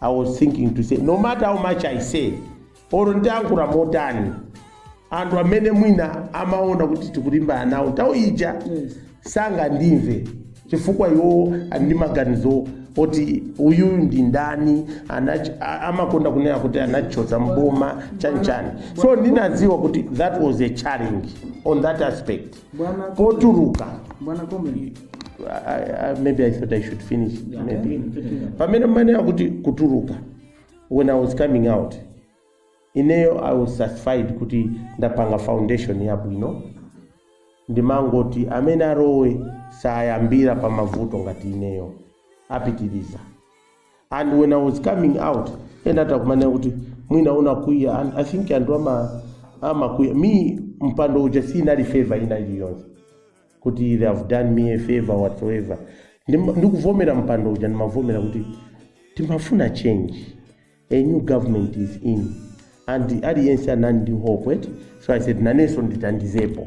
i was thinking to say no matter how much i say or ndiyankhula motani anthu amene mwina amaona kuti tikulimbana nawo nthawi ija sangandimve chifukwa iwo ali ndi maganizo oti uyu ndi mdani anach- a- amakonda kunena kuti anachotsa mboma chanichani so ndinadziwa kuti that was a challenge on that aspect potuluka Bwana Komeni. I, I, maybe I thought I should finish. Yeah, maybe. finish, finish. Pamene mmene mwakuti kutuluka when I was coming out ineyo I was satisfied kuti ndapanga foundation yabwino ndimangoti amene arowe sayambira pa mavuto ngati ineyo apitiriza and when i was coming out ena atakumana kuti mwina unakwiya and i think anthu amakwiya, mpando uja sinali favor ina iliyonse kuti they have done me a favor whatsoever Ndima- ndikuvomera mpando uja ndimavomera kuti timafuna change a new government is in and aliyense anali ndi hope eti so i said nanenso nditandizepo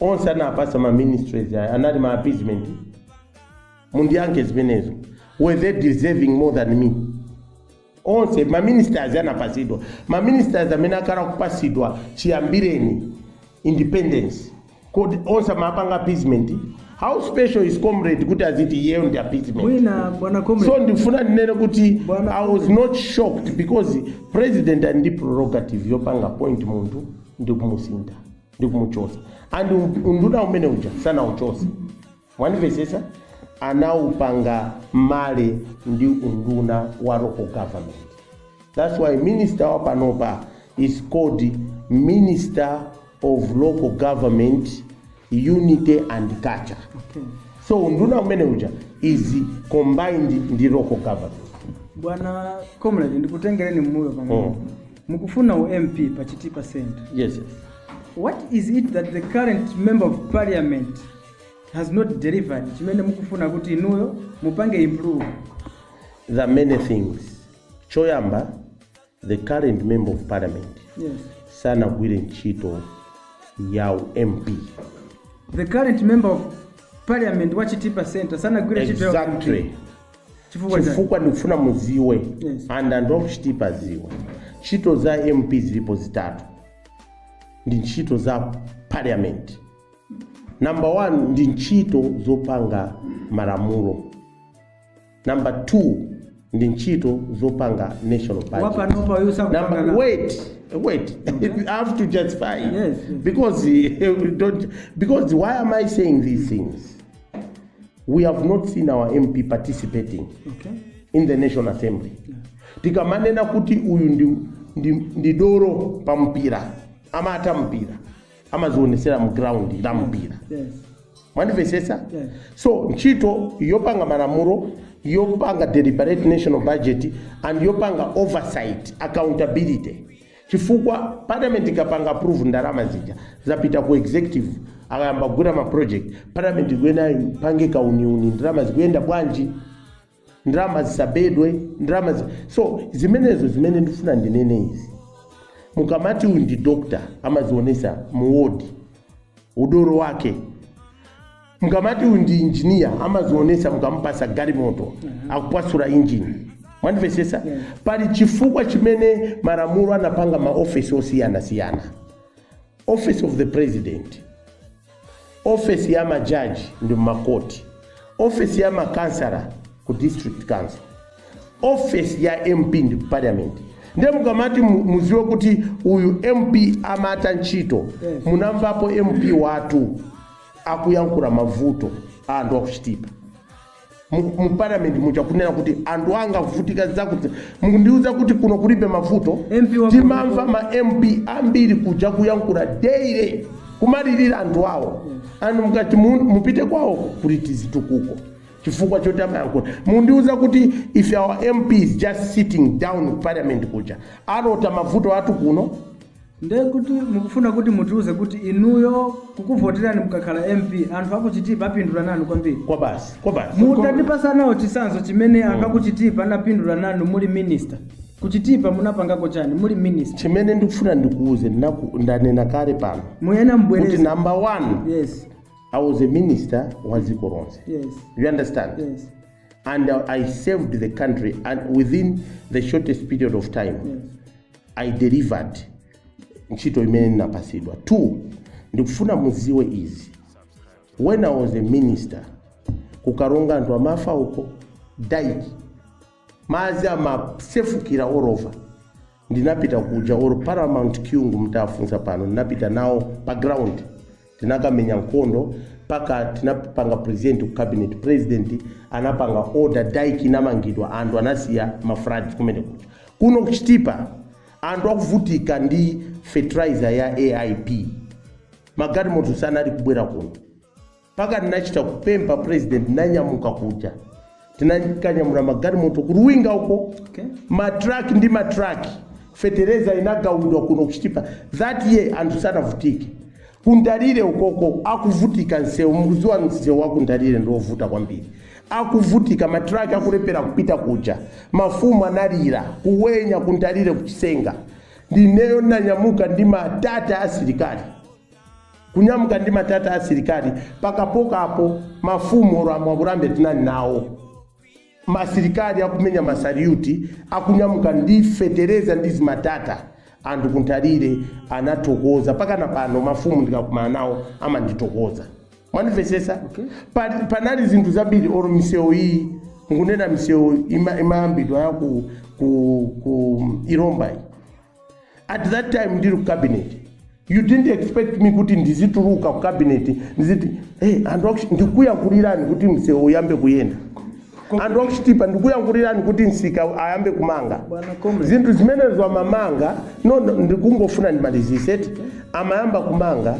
onse anapatsa ma ministries aya anali ma appeasement mundiyankhe zimenezo were they deserving more than me onse ma ministers anapatsidwa ma ministers amene akhala kupatsidwa chiyambireni independence kodi onse amapanga appeasement how special is comrade kuti aziti iyeyo ndi appeasement mwina bwana so comrade ndifuna ndinene kuti Bwana- i was not shocked because president ali ndi prerogative yopanga appoint munthu ndi kumusintha ndi kumuchotsa and unduna umene uja sanauchotse mwandimvetsetsa anaupanga marry ndi unduna wa local government that's why minister wa panopa is called minister of local government unity and culture Okay. so unduna umene uja is combined ndi local government bwana comrade ndikutengereni mmbuyo pang'ono Mm. mukufuna u mp pa chitipa center yes yes. what is it that the current member of parliament has not delivered chimene mukufuna kuti inuyo mupange improve there are many things choyamba the current member of parliament yes sanagwire ntchito ya u mp the current member of parliament wa chitipa center sanagwire ntchito ya exactly Chifukwa chani? chifukwa ndikufuna mudziwe Yes. and anthu aku chitipa adziwe ntchito za mp zilipo zitatu ndi ntchito za parliament number one ndi ntchito zopanga malamulo number two ndi ntchito zopanga national budget. Wapanopa uyu sakupanga Number- nawo. wait wait i have to justify Yes, yes. because eh, we don't because why am i saying these things we have not seen our mp participating okay in the national assembly tikamanena kuti uyu ndi, ndi, ndi dolo pa mpira amatha mpira amadzionetsera mu ground la mpira yes mwandimvetsetsa Yes. so ntchito yopanga malamulo yopanga deliberate national budget and yopanga oversight accountability Chifukwa parliament ikapanga approve ndalama zija zapita ku executive akayamba kugwira ma project, parliament ikuyenera ipange kauniuni ndalama zikuyenda bwanji, ndalama zisabedwe, ndalama zi... so zimenezo zimene ndifuna ndinene izi mukamati uyu ndi doctor amadzionetsa mu ward udolo wake Mukamati uyu ndi engineer amazionesa mukamupasa galimoto akuphwasula engine. Mwandivesesa? Pali chifukwa chimene maramulo anapanga ma office osiyana siyana. Office of the president, office ya majaji ndi makoti, office ya makansala ku district council, office ya MP ndi ku parliament. Nde mukamati mu- muziwe kuti uyu MP amatha ntchito, munamvapo MP wathu akuyankhula mavuto a anthu akuchitipa mu mu parliament muja kunena kuti anthu anga akuvutika zakuti mukundiuza kuti kuno kulibe mavuto MP wa- timamva ma mp ambiri kuja kuyankhula daily kumalirira anthu awo anthu mukati mu- mupite kwawo kuti tizitukuko chifukwa choti amayankhula mukundiuza kuti if our mp is just sitting down parliament kuja alota mavuto athu kuno Nde kuti mukufuna kuti mutiuze kuti inuyo kukuvoterani mukakhala MP anthu aku Chitipa apindula nanu kwambiri? Kwabasi, kwabasi. Mutatipasa nawo chitsanzo chimene anthu aku Chitipa anapindula nanu muli minister. Ku Chitipa munapangako chani muli minister? Chimene ndikufuna ndikuuze ndinaku- ndanena kale pano Muyena kuti mbwereza. number one Yes, I was a minister wa dziko lonse. yes, you understand yes. and uh, I served the country and within the shortest period of time I delivered ntchito imene ndinapasidwa two ndikufuna muziwe izi when I was a minister kukaronga anthu amafa uko dike madzi amasefukira all over Ndinapita kuja or Paramount Kyungu mtafunsa pano ndinapita nawo pa ground tinakamenya nkhondo mpaka tinapanga present ku cabinet president anapanga order dike inamangidwa anthu anasiya ma floods kumene kuja kuno ku Chitipa anthu akuvutika ndi fertilizer ya AIP magalimoto sanali kubwera kuno Mpaka tinachita kupempha president nanyamuka kuja tinakanyamula magalimoto ku Luwinga uko okay. matraki ndi matraki fetereza inagawidwa kuno kuchitipa that year anthu sanavutike ku Nthalire ukoko akuvutika nsewu mukuziwa nsewu waku Nthalire ndiovuta kwambiri akuvutika matraki akulephera kupita kuja mafumu analira ku Wenya ku Nthalire ku Chisenga ndineyo nanyamuka ndi matata asilikali kunyamuka ndi matata a asilikali mpaka pokapo mafumu oro amwakurambe tinali nawo masilikali akumenya masariuti akunyamuka ndi fetereza ndi zimatata anthu kunthalire anathokoza mpaka na pano mafumu ndikakumana nawo amandithokoza mwanimvesesa okay. panali zinthu zambiri oro misewu iyi nkunena misewu imayambidwa ya ku, ku, ku Ilomba iyi at that time ndili ku cabinet you didn't expect me kuti ndizituluka ku cabinet ndiziti hey, anthu aku Chiti- ndikuyankhulirani kuti msewu uyambe kuyenda anthu aku Chitipa ndikuyankhulirani kuti msika ayambe kumanga Bwana Comrade. zinthu zimenezo amamanga no, no, ndikungofuna ndimalizise eti amayamba kumanga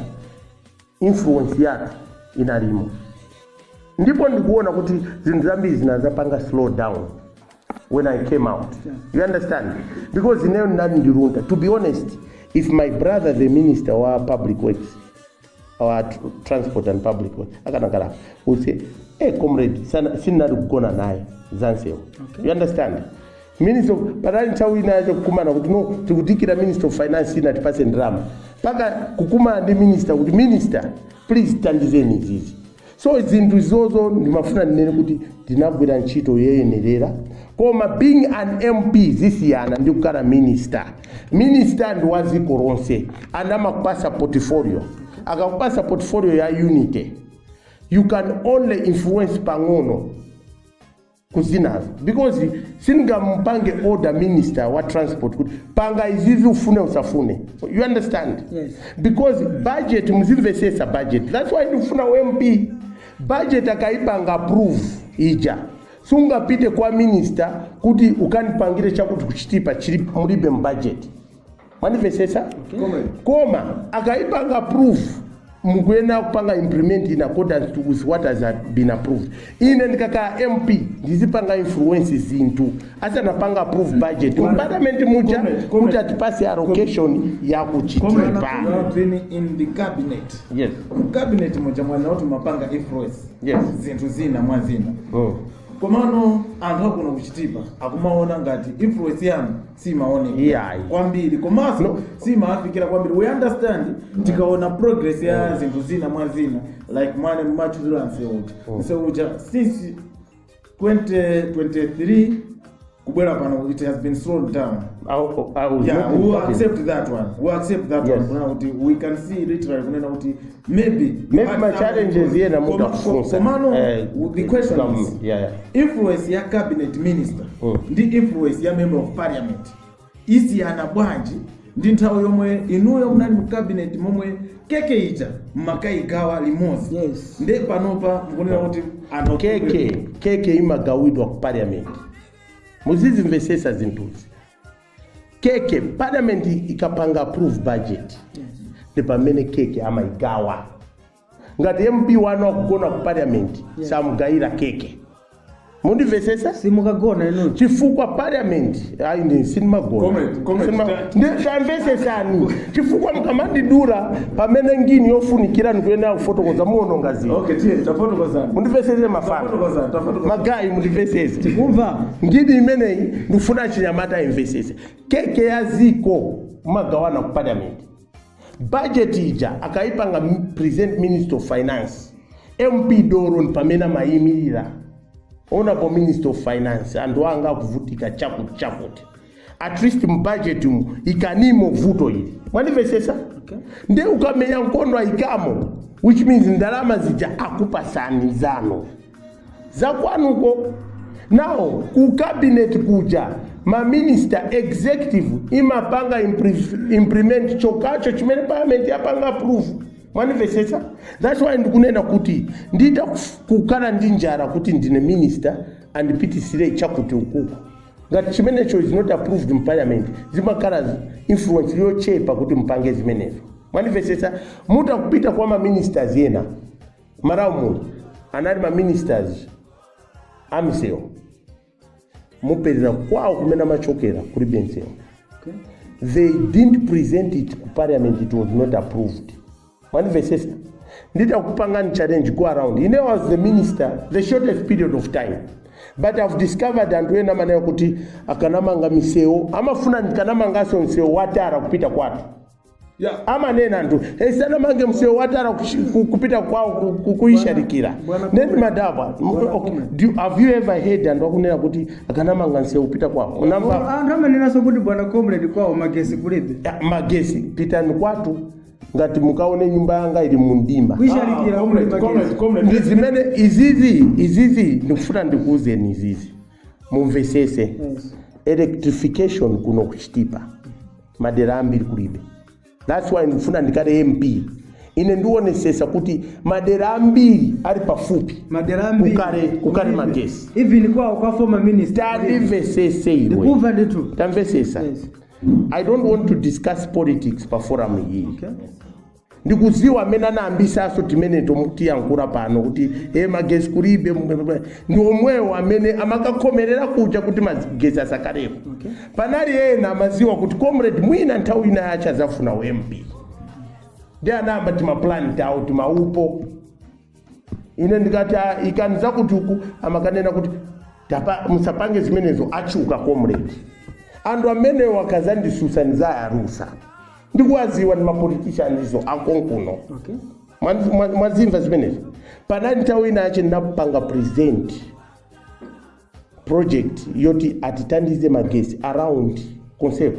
influence yathu inalimo ndipo ndikuona kuti zinthu zambiri zinazapanga slow down when i came out you understand because ineyo ndinali ndilunta to be honest if my brother the minister wa public works wa tr- transport and public works akanakala anauza hey comrade sana- sindinali kugona naye za nsewu you understand Minister of, panali nthawi inayake kukumana kuti no tikudikira Minister of Finance inu tipaseni ndalama paka kukumana ndi minister kuti minister please tandizeni izizi so zinthu izozo ndimafuna ndinene kuti ndinagwira ntchito yoyenerera koma being an mp zimasiyana ndi kukhala minister minister ndi wa dziko lonse and amakupasa portfolio akakupasa portfolio ya unity you can only influence pang'ono ku zinazo because sindingamupange order minister wa transport kuti panga izizi ufune usafune you understand Yes. because budget muzimvesesa budget that's why ndikufuna u MP budget akaipanga approve ija sungapite kwa minister kuti ukandipangire chakuti ku Chitipa chili mulibe mu budget mwandimvetsetsa koma akaipanga approve mukuyenera kupanga implement in accordance to with what has been approved ine ndikakhala mp ndizipanga influence zinthu asanapange approve budget mu parliament muja kuti atipase allocation ya ku Chitipa You have been in the cabinet. yes Cabinet muja mwanenatu mumapanga influence. Yes. Zinthu zina mwa zina. oh. Komano anthu akuno ku Chitipa akumaona ngati influence yanu simaonekera Iyayi. kwambiri komanso No. simawafikira kwambiri we understand tikaona progress ya zinthu zina mwa zina like mwanena mwatchula nseu uja nseu uja since 2023 kubwera pano it has been slowed down I, I was yeah, not we will talking. accept that one. We will accept that Yes. one. Kunena kuti we can see literally kunena kuti maybe Maybe at my some challenges point. here na Koma- mutafunsa. komano Eh, the question some- is yeah, yeah. influence ya cabinet minister Mm. ndi influence ya member of parliament imasiyana bwanji ndi nthawi yomwe inuyo munali mu cabinet momwe keke ija mumakaigawa limodzi Yes. nde panopa mukunena kuti anthu keke keke imagawidwa ku parliament muzizimvesesa zinthuzi keke parliament ikapanga approve budget ndi pamene keke amaigawa ngati mp wanu wakugona ku parliament samugayira keke mundimvesesa simukagona inu chifukwa parliament ayi ndi sinimagona Comment, comment. Sinima- ndi- tamvesesani chifukwa mkamandidura pamene ngini yofunikira ndikuyenera kufotokoza muononga zinthu okay tiye tafotokozani mundimvesese mafana tafotokozani tafotokozani magayi mundimvesese kumva ngini imeneyi ndikufuna achinyamata amvesese keke ya ziko amagawana ku parliament budget ija akayipanga m- present minister of finance MP dolo ndi pamene amayimirira honorable minister of finance anthu anga akuvutika chakuti chakuti at least m'budget mu ikanimo vuto ili mwandimvesesa okay. nde ukamenya nkondo ayikamo which means ndalama zija akupasani zano zakwanuko Now ku cabinet kuja ma minister executive imapanga impre- implement chokacho chimene parliament yapanga approve mwanimvetsetsa that's why ndikunena kuti nditha kuf- kukhala ndi njala kuti ndine minister ndipitisire chakuti ukuku ngati chimenecho is not approved in parliament zimakhala zi- influence yochepa kuti mpange zimenezo mwanimvetsetsa mutha kupita kwa ma ministers ena malawi muno anali ma ministers amisewu mupeza kwawo kumene amachokera kulibe msewu Okay. they didn't present it ku parliament it was not approved mwanivesesa nditha kupangani challenge go around ine was the minister the shortest period of time but i've discovered anthu ena amanena kuti akanamanga misewu amafuna ndikanamanganso msewu wa tara kupita kwathu Yeah. amanena kuti sanamange msewu wa tara kuchi- ku- kupita kwawo ku- ku- kuyisharikira Bwana- Bwana- neni madaba Bwana- okay. Do you- have you ever heard anthu akunena kuti akanamanga msewu kupita kwawo unamva anthu amanenanso kuti bwana comrade kwawo magesi kulibe Ya, magesi pitani kwathu ngati mukaone nyumba yanga ili mumdima kuyisharikira Ah, comrade, comrade, magesi comrade. ndi zimene izizi izizi ndikufuna ndikuuzeni izizi mumvesese Yes. electrification kuno ku Chitipa madera ambiri kulibe that's why ndifuna ndikhale mp ine ndionesesa kuti madera ambiri ali pafupi madera ambiri kukhale kukhale magesi even kwawo kwa former minister tandimvesese iwe ndikumva ndithu tamvesesa Yes. i don't want to discuss politics pa forum iyi Okay. ndikuziwa amene anayambisaso timeneto mukuyankhula pano kuti e magesi kulibe ndi omwewo amene amakakhomerera kuja kuti magesi asakhalepo panali ena amaziwa kuti comrade mwina nthawi inayake azafuna u MP nde anayamba timapulani tawo timaupo ine ndikati "Ah, ikani zakuti uku amakanena kuti "Tapa- musapange zimenezo achuka comrade anthu amenewo akazandisusa ndizayarusa ndikuwaziwa ndi mapolitishani izo akonkuno okay Mwa- mwa- mwazimva zimenezo panali nthawi ina yache ndapanga present project yoti atitandize magesi around concept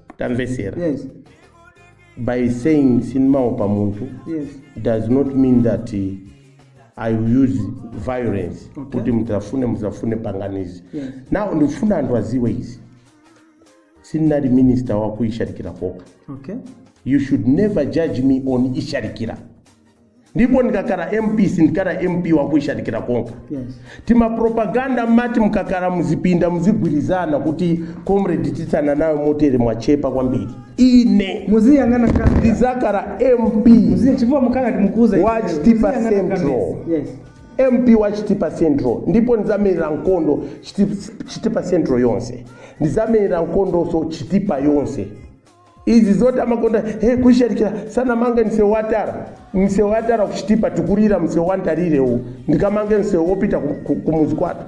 tamvetsera yes by saying sindimaopa munthu yes does not mean that eh, i will use violence Okay. kuti muzafune muzafune panganizi Yes. now ndikufuna anthu aziwe izi sindinali minister wakuishalikira kokha okay you should never judge me on ishalikira ndipo ndikakhala mp sindikhala mp wakuishalikira kokha Yes. timapropaganda mumati mkakhala muzipinda muzigwirizana kuti comrade tithana nayo motere mwachepa kwambiri ine Muziyang'ana kamera. ndizakhala mp Muziya- chifukwa mukhala kuti mukuuza. Wa ife. Chitipa Muziyang'ana Central. kamera. Yes. mp wa chitipa central ndipo ndizamerera nkondo Chiti- chitipa central yonse ndizamerera nkondonso chitipa yonse izi zoti amakonda kuishalikira sanamange msewu watara msewu watara kuchitipa tikulira msewu wantali uwu ndikamange msewu wopita ku- ku- kumuzi kwathu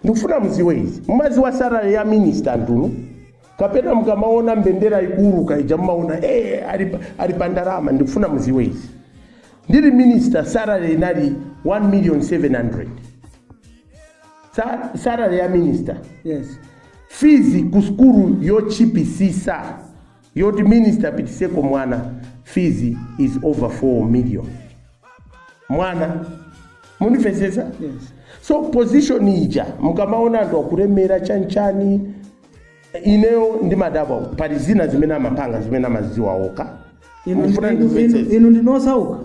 ndikufuna muziwe izi mumaziwa salary ya minister inu kapena mukamaona mbendera ikuuluka ija mumaona hey, ali, pa- ali pa ndalama ndikufuna muziwe izi ndili minister salary inali 1 million 700 Sa- salary ya minister yes fees ku sukulu yochipisisa yoti minister apitiseko mwana fees is over 4 million mwana munivesese yes so position ija mukamaona anthu akulemera chanichani ineyo ndimadabwa pali zina zimene amapanga zimene amazidziwa okha Inu- Ndifuna inu- ndimvetsetse. inu- inu ndine osauka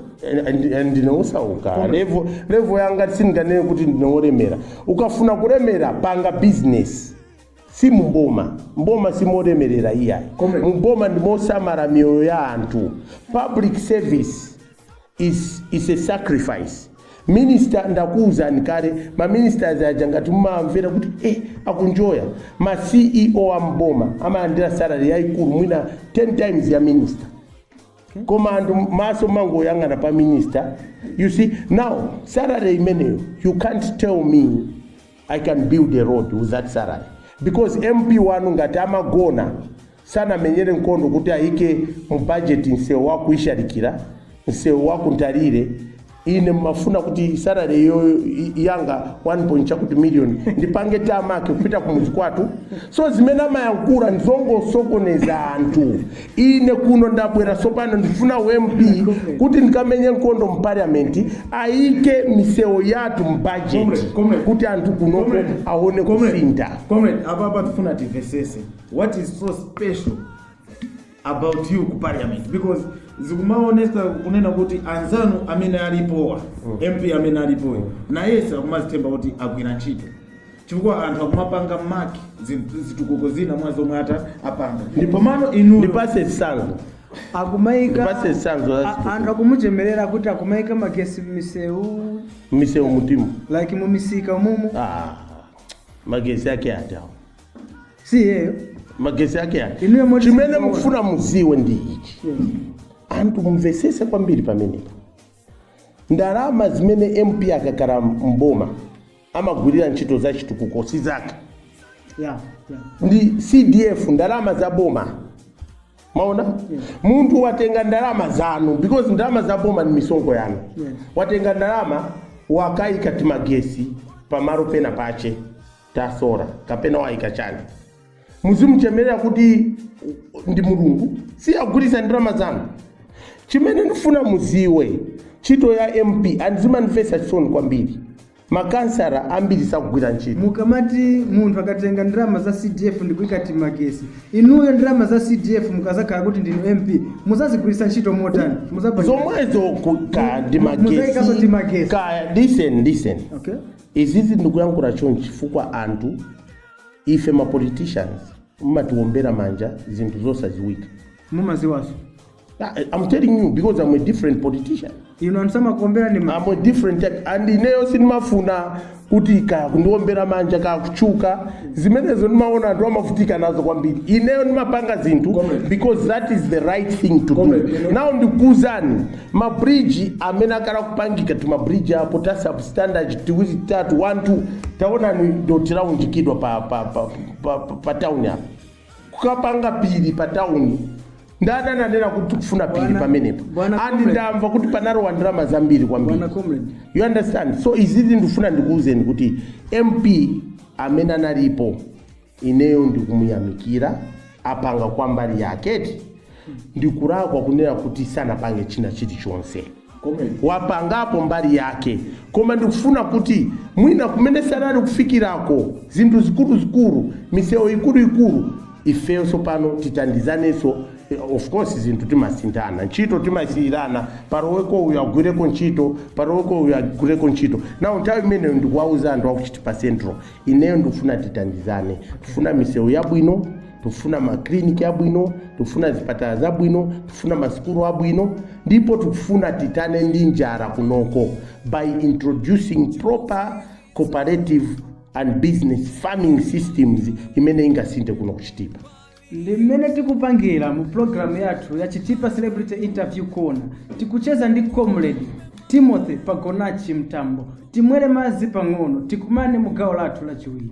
ndine wosauka level level yanga sindinganene kuti ndine wolemera ukafuna kulemera panga bizinesi si mumboma mboma simolemerera iyayi Comrade. mumboma ndimosamara miyoyo ya anthu public service Is is a sacrifice minister ndakuwuzani kale ma ministers aja ngati mumamvera kuti eh, akunjoya ma ceo am'boma amalandira salary yayikulu mwina 10 times ya minister koma anthu maso mumangoyang'ana pa minister you see now salary imeneyo you can't tell me i can build a road with that salary because mp wanu ngati amagona Sanamenyere nkondo kuti ayike mu budget nsewu wa ku Isharikira, nsewu wa ku Ntarire, ine mumafuna kuti salary yo i- yanga 1 point chakuti million ndipange tamake kupita ku mudzi kwathu so zimene amayankhula ndizongosokoneza anthu ine kuno ndabwera sopano ndifuna u MP kuti ndikamenye nkondo mu parliament ayike misewu yathu mu budget Comrade, comrade. kuti anthu kunoko Comrade. aone Comrade, kusintha comrade, apa apa tifuna timvesese what is so special about you ku parliament because zikumaonesa kunena kuti anzanu amene alipowa MP amene alipoyo nayense akumazitemba kuti agwira ntchito chifukwa anthu akumapanga maki zitukuko zina mwa zomwe ata apanga ndipomano inuyo ndipase chisanzo akumaika Ndipase chisanzo cha a- zitukuko. anthu akumuchemerera kuti akumaika magesi m'misewu misewu mutimu like mumisika mumu ah, magesi ake ati awo si iyeyo magesi ake ake Inuyo moti chimene sikuona. ndifuna muziwe ndi ichi anthu mumvesese kwambiri pamenepo ndalama zimene MP akakhala mboma amagwirira ntchito za chitukuko si zake ya ya ndi CDF ndalama za boma mwaona munthu watenga ndalama zanu because ndalama za boma ni misonkho yanu Yeah. watenga ndalama wakaika timagesi pamalo pena pache ta solar kapena waika chani muzimuchemerera kuti ndi mulungu si wagwiritsa ndalama zanu chimene ndifuna muziwe ntchito ya MP and zimandimvetsa chisoni kwambiri makansara ambiri sakugwira ntchito mukamati munthu akatenga ndalama za CDF ndikuika timagesi inuyo ndalama za CDF mukazakhala kuti ndinu MP muzazigwiritsa ntchito motani Muzapanga- zomwezo ku- ka ndi Mu- muzaikaso magesi timagesi. kaya listen listen okay Izizi ndikuyankhula chonchi chifukwa anthu ife ma politicians mmatiombera manja zinthu zosaziwika. Mumaziwaso. I'm telling you because I'm a different politician. Inu anthu samakuomberani ma. I'm a different type and ineyo sindimafuna kuti kaya kundiombera manja kaya kutchuka zimenezo ndimaona anthu amavutika nazo kwambiri ineyo ndimapanga zinthu Comrade. because that is the right thing to do Comrade. now ndikuuzani Ma bridge amene akhala kupangika tuma bridge apo ta substandard tiwiri titatu one two taonani dothi launjikidwa pa pa pa, pa, pa, pa town apa kukapanga phiri pa town ndani ananena kuti tikufuna phiri Bwana- pamenepo Bwana and Comrade. ndamva kuti panalowa ndalama zambiri kwambiri Bwana Comrade. you understand so izizi ndifuna ndikuwuzeni kuti MP amene analipo ineyo ndikumuyamikira apanga kwa mbali yake eti ndikulakwa kunena kuti sanapange china chilichonse wapangapo mbali yake koma ndikufuna kuti mwina kumene sanali kufikirako zinthu zikuluzikulu misewu ikuluikulu ifeyo tsopano titandizanenso eh, of course zinthu timasinthana ntchito timasiyirana palowepo uyu agwireko ntchito paloweko uyu agwireko ntchito now nthawi imeneyo ndikuwauza anthu aku Chitipa Central ineyo ndikufuna titandizane tifuna misewu yabwino tifuna makliniki abwino tifuna zipatala zabwino tifuna masukulu abwino ndipo tikufuna tithane ndi njala kunoko by introducing proper cooperative and business farming systems imene ingasinthe kuno ku Chitipa Ndi mmene tikupangira mu program yathu ya Chitipa Celebrity Interview Corner. Tikucheza ndi comrade Timothy Pagonachi Mtambo. Timwere madzi pang'ono, tikumane mu gawo lathu lachiwiri.